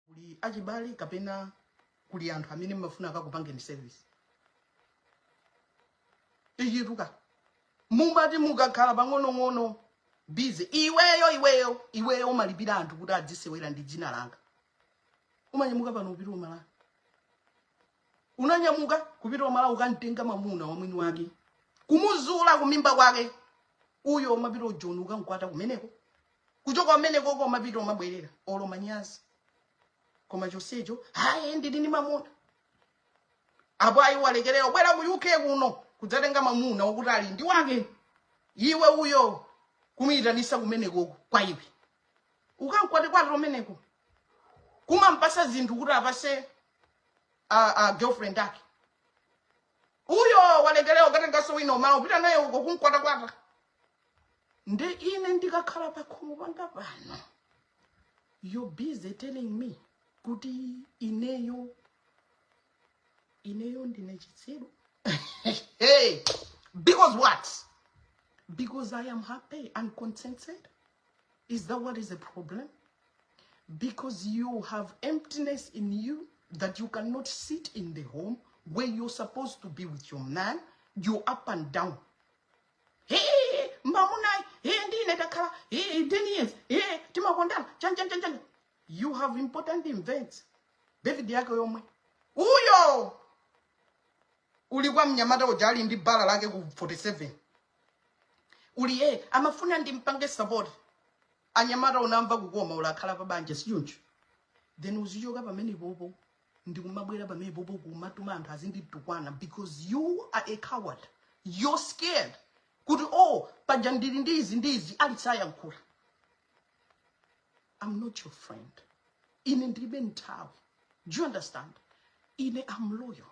kuli achibale kapena kuli anthu amene mmafuna akakupangeni service ichitika mumati mukakhala pang'onong'ono busy iweyo iweyo iweyo umalipira anthu kuti adzisewera ndi dzina langa umanyamuka pano kupita ku Malawi unanyamuka kupita ku Malawi ukamtenga mamuna wa mwini wake kumuzula kunyumba kwake uyo umapita ku Joni ukamkwata kumeneko kuchoka kumenekoko umapita umabwerera olo manyazi koma chonsecho hayi ndili ndi mamuna apo ayi walekera ubwera ku uk kuno kudzatenga mamuna wakuti ali ndi wake iwe uyo kumuyitanisa kumenekoko kwa iwe ukamkwatekwate kumeneko kumampasa zinthu kuti apase a, a girlfriend ake uyo walekera ukatengaso wina ku Malawi kupita naye uko kumkwatakwata nde ine ndikakhala pakhomo panga pano you busy telling me kuti ineyo ineyo ndine chitsiru hey, because what because i am happy and contented is that what is the problem because you have emptiness in you that you cannot sit in the home where you're supposed to be with your man you up and down mamunayu ndi ine takhala 10 years timakondana chanchanchanchan you have important events David yako yomwe uyo uli kwa mnyamata uja ali ndi bala lake ku 47 uli e amafuna ndimpange support anyamata unamva kukoma uli akhala pa banja sichoncho then uzichoka pamenepopo ndikumabwera pamenepopo kumatuma anthu azinditukwana because you are a coward you're scared kuti oh paja ndili ndi izi ndi izi alisayankhula i'm not your friend ine ndilibe nthawi do you understand ine am loyal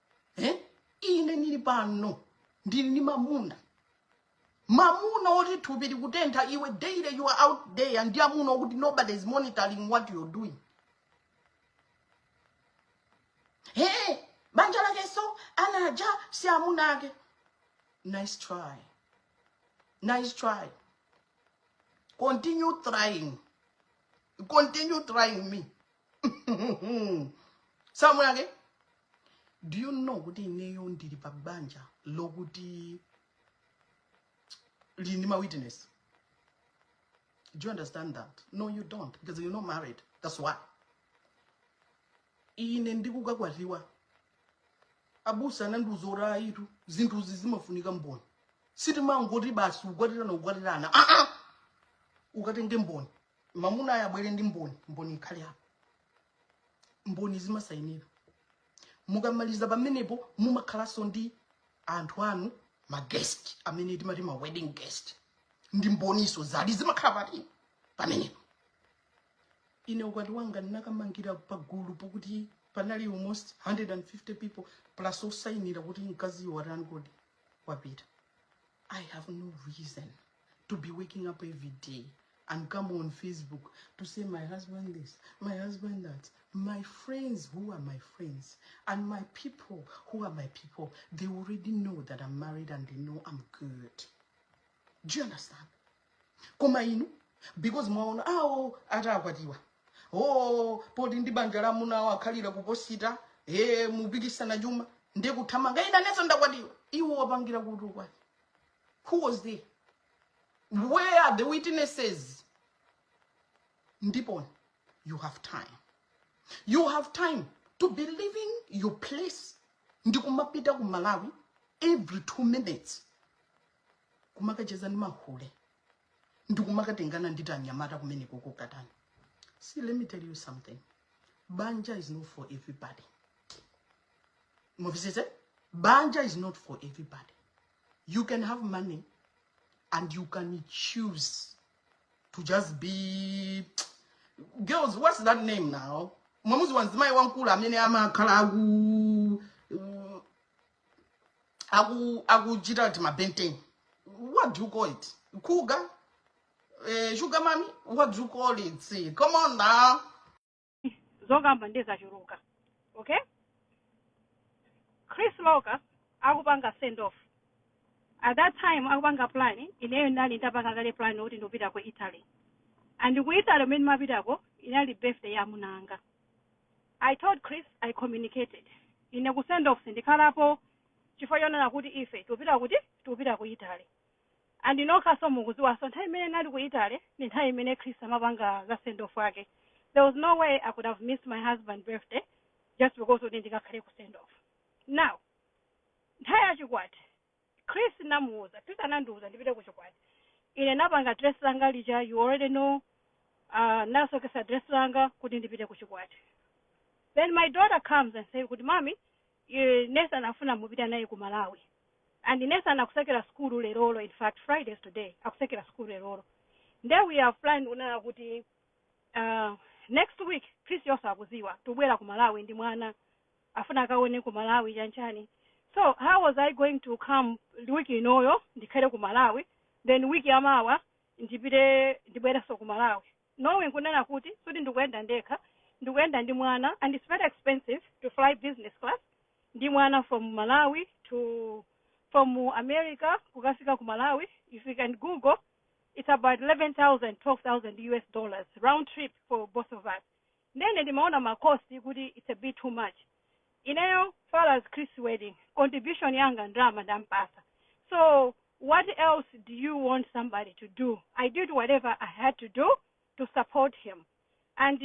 eh? ine ndili pano ndili ndi mamuna mamuna oti thupi likutentha iwe daily you are out there ndi amuna okuti nobody is monitoring what you're doing hey, banja lake so anaja si amuna ake nice try nice try continue trying continue trying me si amuna ake do you know kuti ineyo ndili pa banja lokuti lili ndi ma witness do you understand that no you don't because you're not married that's why ine ndikukakwatiwa abusa anandiuza kuti ayitu zinthuzi zimafunika mboni sitimangoti basi ukwatirana ukwatirana aa ah, ah! ukatenge mboni mamunayo abwere ndi mboni mboni ikhale apo mboni zimasainira mukamaliza pamenepo mumakhalanso ndi anthu anu ma guest amene timati ma wedding guest ndi mboniso zali zimakhala pati pamenepo ine ukwati wanga ndinakamangira pagulu pokuti panali almost 150 people plus osainira kuti mkaziyo watani kodi wapita i have no reason to be waking up every day and come on Facebook to say my husband this, my husband that. My friends who are my friends and my people who are my people, they already know that I'm married and they know I'm good. Do you understand? Koma inu, because mwaona awo ah, oh, atakwatiwa. Oh, poti ndi banja la muna wakhalira kuposita, eh mupikisana chuma, ndiye kuthamanga ina nezo ndakwatiwa. Iwo wapangira kutukwa. who was there where are the witnesses ndipon you have time you have time to be leaving your place ndikumapita ku malawi every two minutes kumakacheza ndi mahule ndikumakatengana ndi tianyamata kumeneko kokatani see let me tell you something banja is not for everybody mumvesese banja is not for everybody you can have money and you can choose to just be girls what's that name now mwamuzi wanzimayi wamkulu amene amakhala aku uh, aku akuchita kuti mabenten what do you call it kuga eh, sugar mami what do you call it See, come on now zokamba nde zachuluka okay chris loka akupanga send off at that time akupanga plan ineyo ndinali ndapanga kale plan kuti ndikupita ku italy and ku italy kumene ndimapitako inali birthday ya mamunanga i told chris i communicated ine ku send off sindikhalapo chifukwa chonena kuti ife tikupita kuti tikupita ku italy And inu nokhaso mukuziwaso nthawi imene nali ku Italy ndi nthawi imene Chris amapanga za send off yake there was no way I could have missed my husband birthday just because kuti ndikakhale ku send off now nthawi ya chikwati Chris namuuza Chris anandiuza ndipite ku chikwati ine napanga dress langa lija you already know uh, nasokesa dress langa kuti ndipite ku chikwati then my daughter comes and say kuti mami Iii Nathan akufuna mupita naye ku Malawi and Nathan akusekera sukulu lerolo in fact Friday is today akusekera sukulu lerolo nde we have planned kunena kuti aah next week Chris yenso akuziwa tikubwera ku Malawi ndi mwana afuna akaone ku Malawi chani chani so how was I going to come week inoyo ndikhale ku Malawi then week yamawa ndipite ndibwerenso ku Malawi knowing kunena kuti sikuti ndikuyenda ndekha ndikuyenda ndi mwana and it's very expensive to fly business class ndi mwana from malawi to from america kukafika ku malawi if you can google it's about 11000 12000 us dollars round trip for both of us Nde ine ndimaona ma cost kuti it's a bit too much. Ineyo far as Chris's wedding, contribution yanga ndalama ndinampatsa. So what else do you want somebody to do? I did whatever I had to do to support him. And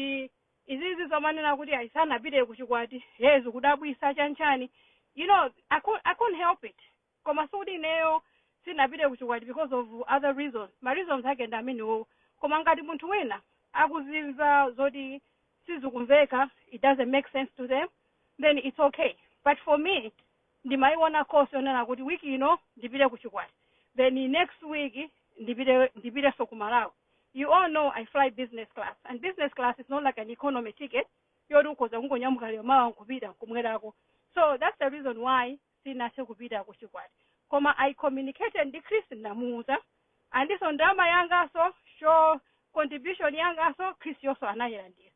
izizi zomanena kuti ayi sanapite kuchikwati, hey zikudabwisa chanchani. You know, I couldn't, I couldn't help it. koma sikuti ineyo sindinapite ku chikwati because of other reasons ma reasons ake ndi amenewowo koma ngati munthu wina akuzimva zoti sizikumveka it doesn't make sense to them then it's okay but for me ndimayiona cost yonena kuti week ino ndipite ku chikwati then next week ndipite ndipitenso ku malawi you all know i fly business class and business class is not like an economy ticket yoti ukhoza kungonyamuka lero mawa nkupita nkubwerako so that's the reason why sinathe kupita ku chikwati koma i communicated ndi chris ndinamuuza and so ndalama yanganso so contribution yanganso chris yonso anayilandira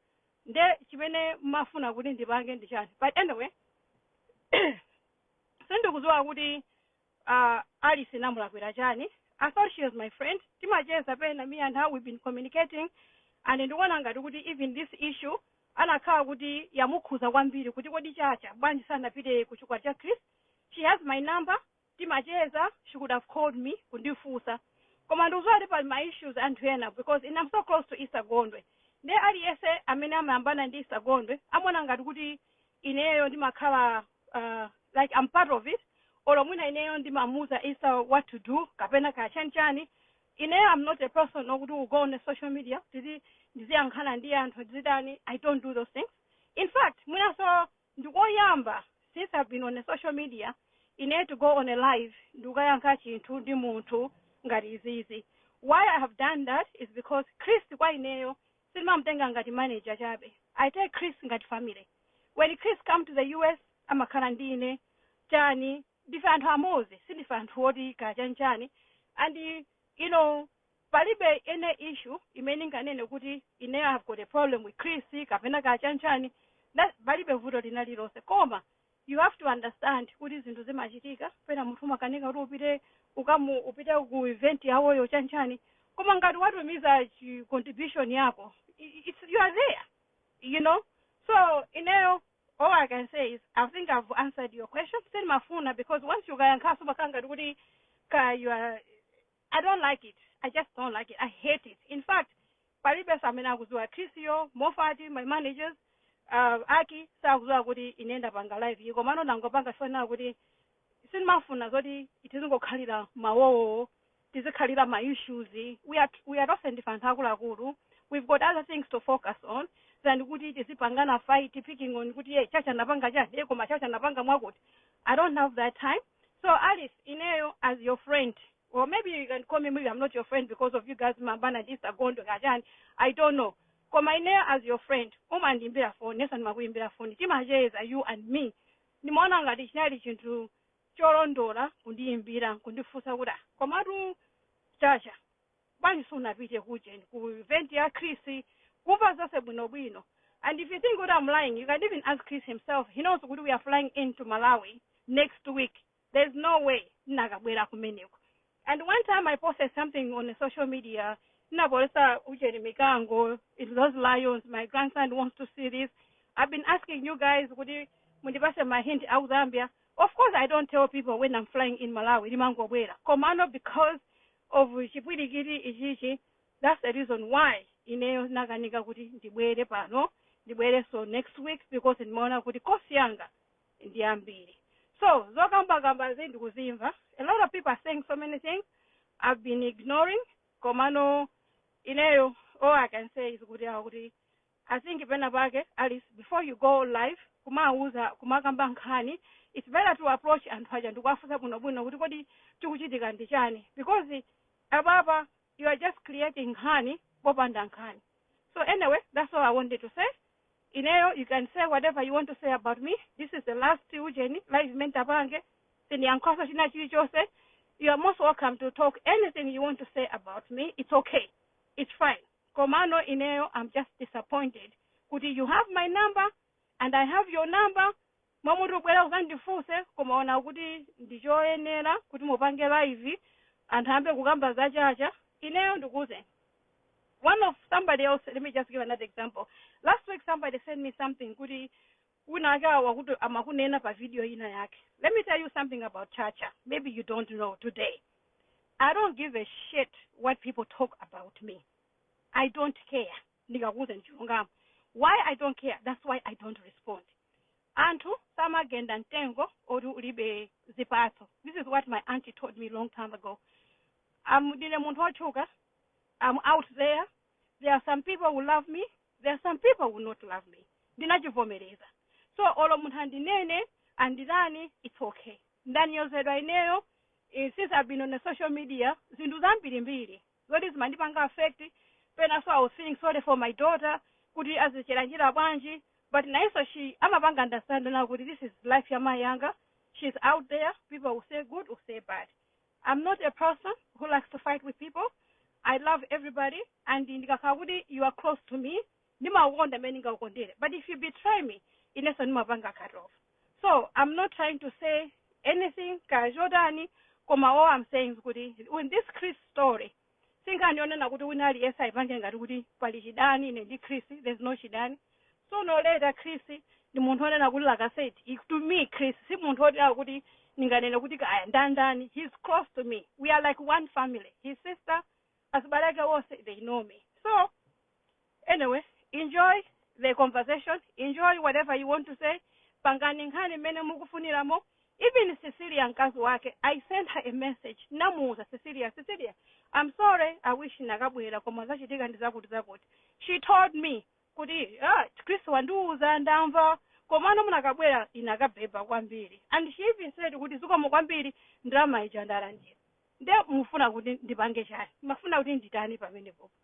nde chimene mmafuna kuti ndipange ndi chani but anyway sindikudziwa kuti uh, alice namulakwira chani i thought she was my friend timacheza pena me and her we've been communicating and ndikuona ngati kuti even this issue anakhala kuti yamukhuza kwambiri kuti kodi chacha bwanji sanapite ku chikwati cha Chris she has my number timacheza she could have called me kundifunsa koma ndikuziwa pali ma issues anthu ena because ine I'm so close to Esther Gondwe nde aliyense amene amayambana ndi Esther Gondwe amaona ngati kuti ineyo ndimakhala uh, like I'm part of it olo mwina ineyo ndimamuuza Esther what to do kapena kaya chani chani ineyo I'm not a person okuti will go on a social media kuti ndiziyankhana ndi anthu ndizitani I don't do those things in fact mwinaso ndikoyamba since I've been on a social media ineyo to go on a live ndikukayankha chinthu ndi munthu ngati izizi why I have done that is because Chris kwa ineyo sindimamutenga ngati manager chabe I take Chris ngati family when Chris come to the US amakhala ndi ine chani ndife anthu amodzi sindife anthu oti kaya chani chani and you know palibe any issue imene ndinganene kuti ine I have got a problem with Chris kapena kaya chani chani That- palibe vuto lina lilonse koma You have to understand kuti zinthu zimachitika pena munthu umakanika kuti upite ukamu upite ku event yawoyo chanchani koma ngati watumiza contribution yako i- i- it's, you are there you know so ineyo all i can say is i think i've answered your question sindimafuna because once ukayankhaso umakhala ngati kuti ka you are I don't like it, I just don't like it, I hate it. In fact, palibenso amene akuziwa Chris-yo, Mofati, my managers, uh, Aki, sakuziwa kuti ine ndapanga live iyi. Komano ndangopanga chifukwa kuti sindimafuna zoti tizingokhalira mawowo, tizikhalira ma issues. We are, we are tonse ndife anthu akuluakulu. We've got other things to focus on than kuti tizipangana fight, picking on kuti ye, chacha anapanga chani, ye koma chacha anapanga mwakuti. I don't have that time. So Alice ineyo as your friend or maybe you can call me maybe I'm not your friend because of you guys mayambana ndi Esther Gondwe kaya chani I don't know koma ineyo as your friend umandiimbira phone inenso ndimakuimbira phone timacheza you and me ndimaona ngati chinali chinthu cholondola kundiimbira kundifunsa kuti "Ah, komatu chacha bwanji sunapite ku ujeni ku event ya chris kumva zonse bwinobwino and if you think kuti am lying you can even ask chris himself he knows kuti we are flying into malawi next week there's no way ndinakabwera kumeneko and one time i posted something on the social media ndinaposta ujeni mikango those lions my grandson wants to see this i've been asking you guys kuti mundipase ma hint aku zambia of course i don't tell people when i'm flying in malawi ndimangobwera komano because of chipwilikiti ichichi that's the reason why ineyo ndinakanika kuti ndibwere pano ndibwerenso next week because ndimaona kuti cost yanga ndi yambiri so zokambakambazi ndikuzimva a lot of people are saying so many things i've been ignoring komano ineyo all i can say is kuti awa kuti I think pena pake at least before you go live kumawuza kumakamba nkhani it's better to approach anthu aja ndikuwafunsa bwinobwino kuti kodi chikuchitika ndi chani because apapa you are just creating nkhani popanda nkhani so anyway that's all i wanted to say ineyo you can say whatever you want to say about me this is the last ujeni live mentapange sindiyankhanso china chilichonse you are most welcome to talk anything you want to say about me it's okay it's fine komano ineyo am just disappointed kuti you have my number and i have your number mmalo moti ubwere uzandifunse koma waona kuti ndichoyenera kuti upange live anthu ayambe kukamba za chacha ineyo ndikuuze one of somebody else let me just give another example last week somebody sent me something kuti wina wake wakuti amakunena pa video ina yake let me tell you something about chacha maybe you don't know today i don't give a shit what people talk about me i don't care ndikakuuza ndichilungamo why i don't care that's why i don't respond anthu samagenda mtengo oti ulibe zipatso this is what my auntie told me long time ago am ndine munthu wotchuka am out there there are some people who love me there are some people who not love me ndinachivomereza so olo munthu andinene anditani its okay ndanyozedwa ineyo eh, since i've been on the social media zinthu zambirimbiri zoti zimandipanga affect pena so i was feeling sorry for my daughter kuti azichera njira bwanji but nayenso she amapanga understand now kuti this is life ya mayi anga she's out there people will say good will say bad I'm not a person who likes to fight with people. I love everybody and zikakhala kuti you are close to me ndimakukonda mmene ndingakukondere but if you betray me inenso ndimapanga cut off so i'm not trying to say anything kaya chotani koma all i'm saying is kuti in this chris story Si nkhani yonena kuti wina aliyense aipange ngati kuti pali chidani ine ndi Chris, there's no chidani. Sooner or later Chris ndi munthu onena kuti like I said, he- to me Chris si munthu onena kuti ndinganene kuti kaya ndandani, he's close to me. We are like one family. His sister, azibale ake onse, they know me. So, Anyway, enjoy the conversation, enjoy whatever you want to say, pangani nkhani mmene mukufuniramo. Even Cecilia mkazi wake, I sent her a message, namuuza Cecilia, Cecilia, I'm sorry, I wish nakabwera koma zachitika ndi zakuti zakuti. She told me kuti ah, Chris wandiuza ndamva komano munakabwera inakabhebha kwambiri and she even said kuti zikomo kwambiri ndalama ija ndalandira nde mufuna kuti ndipange chani mufuna kuti nditani pamenepopo